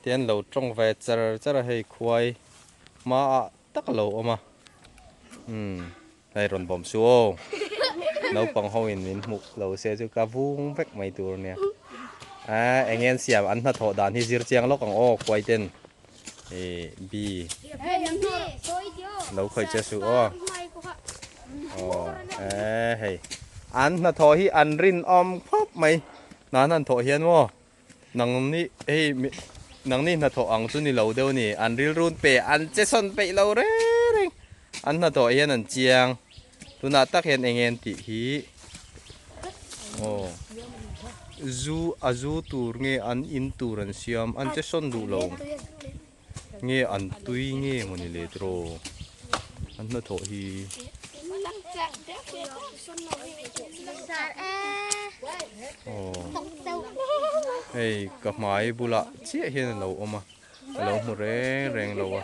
Tian lo tawng ve cher cher a hei khuai hma ah tak alo awm a umm hei rawn bawm su aw naupang ho in min hmuh lo se chu ka vung vek mai tur nia ahh eng ngen siam an hnathawh dan hi zir chiang lawk ang aw khuai ten eh bi lo khawih che su aw aw eh hei an hnathawh hi an rin awm khawp mai nana an thawh hian maw Nang nih hei nang nih hnathawh ang chu ni lo deuh ni, an rilrun pe an che sawn peih lo reng, an hnathawh hian an chiang, tunah tak hian enge an tih hi aw zu a zu tur nge an in tur an siam an che sawn duh lo. Nge an tui nge mawni le draw an hnathawh hi. Hei ka hmai bula chiah hian a lo awm a, a lo hmu reng reng lo a.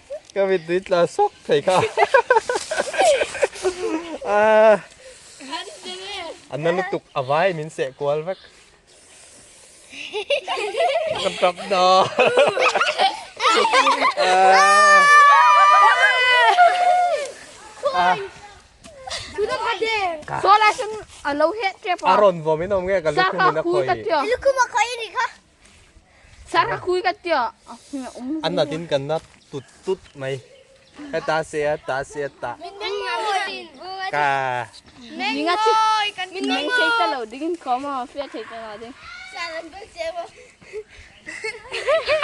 Ka min tui tla sawk thei kha. A na lutuk a vai min seh kual vek. Ka tap dawn. Sualai sawn a lo het tep a. A rawn vawm in awm nge ka lukhum in a khawi. Lukhum a khawi a ni kha. Sarakui ka tia. Anatin kan na tut tut mai. Ka ta se a ta se a ta. Min meng ngoi. Ka. Meng ngoi. Kan meng ngoi. Meng sei ta lo ding in ko ma fia thei ta lo ding. Sa lam bel che bo.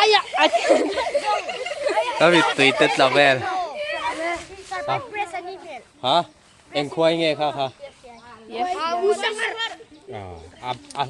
Aya. Abi tui te tla vel. Sa lam press ani vel. Ha? Engkhua inge kha kha. Yes. Abu sangar. Ah. Ah.